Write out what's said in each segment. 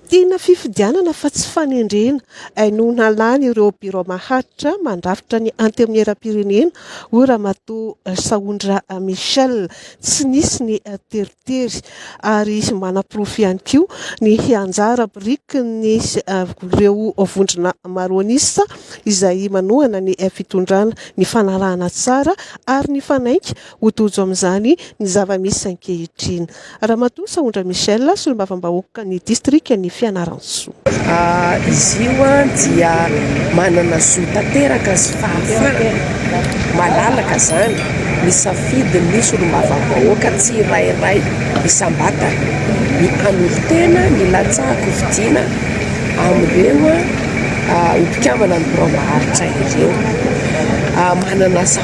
Tiana fifidianana fa tsy fanendrena, hainoana lany ireo birao maharitra mandrafitra ny antenimieram-pirenena, hoy Ramatoa Sahondra Michel. Tsy nisy ny teritery ary manaporofo ihany koa ny anjara birikin'ireo vondrona maroanisa izay manohana ny fitondrana, ny fanarahana tsara ary ny fanainga Ho tojo amin'izany ny zava-misy ankehitriny. Ramatoa Sahondra Michelle, solombavambahoaka ny distrikan'i Fianarantsoa. Izy io dia manana zo tanteraka sy fahafahana malalaka izany misafidy ny solombavambahoaka tsirairay isam-batana, ny hanolo-tena ny latsahako hividiana amin'ireo ho mpikambana ny biraom-baharitra ireo. Manana asa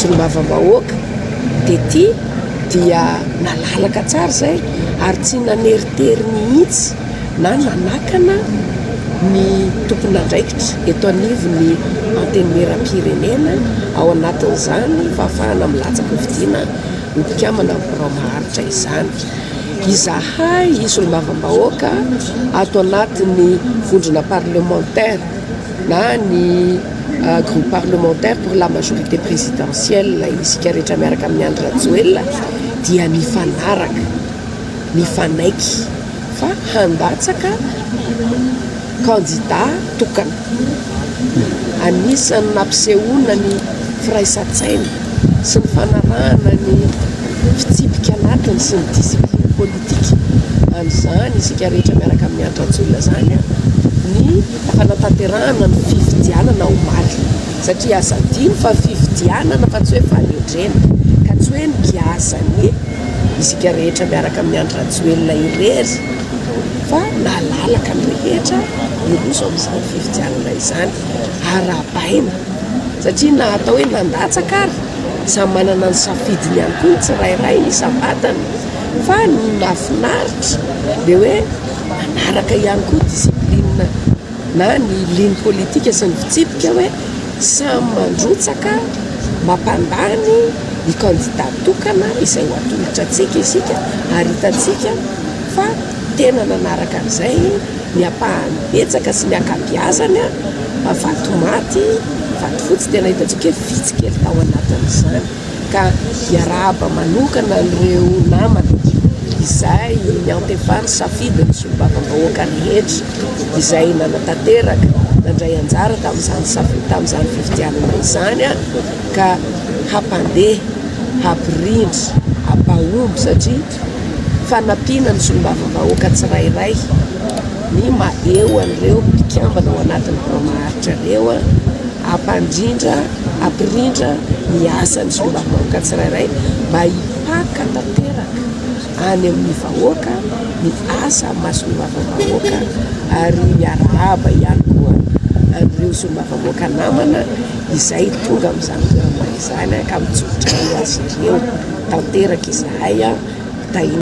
solombavambahoaka dia ity dia nalalaka tsara izay ary tsy naneritery mihitsy na nanakana ny tompon'andraikitra eto anivon'ny Antenimierampirenena, ao anatin'izany fahafahana milatsaka hofidiana ho mpikambana amin'ny birao maharitra izany. Izahay solombavambahoaka ato anatin'ny vondrona parlementaire. na ny groupe parlementaire pour la majorité présidentielle, isika rehetra miaraka amin'i Andry Rajoelina dia mifanaraka, mifanaiky fa handatsaka kandida tokana. Anisan'ny nampisehoana ny firaisan-tsaina sy ny fanarahana ny fitsipika anatiny sy ny discipline politique an'izany isika rehetra miaraka amin'i Andry Rajoelina izany ny hanatanterahana ny fifidianana omaly satria aza adino fa fifidianana fa tsy hoe fanendrena ka tsy hoe nigiazan'ny isika rehetra miaraka amin'ny Andry Rajoelina irery fa nalalaka ny rehetra hiroso amin'izany fifidianana izany arahabaina satria na atao hoe nandatsaka ary samy manana ny safidiny ihany koa ny tsirairay ny isam-batany fa ny mahafinaritra dia hoe manaraka ihany koa discipline na ny ligne politique sy ny fitsipika hoe samy mandrotsaka mampandany ny candidat tokana izay ho atolotra antsika isika ary hitantsika fa tena nanaraka an'izay ny ampahany betsaka sy ny ankabiazany a vato maty vato fotsy tena hitantsika hoe vitsy kely tao anatin'izany ka hiarahaba manokana an'ireo namana izay niantefan'ny safidin'ny solombavambahoaka rehetra izay nanatanteraka, nandray anjara tamin'izany safi- tamin'izany fifidianana izany aho ka hampandeha, hampirindra, hampahomby satria. Fanampiana ny solombavambahoaka tsirairay ny maha-eo an'ireo mpikambana ao anatin'ny birao maharitra ireo, hampandrindra, hampirindra ny asan'ny solombavambahoaka tsirairay mba hipaka tanteraka any amin'ny vahoaka ny asa amin'ny maha solombavambahoaka ary miarahaba ihany koa an'ireo solombavambahoaka namana izay tonga amin'izany toerana izany. Izany ka mitsotra eo izy ireo tanteraka izahay.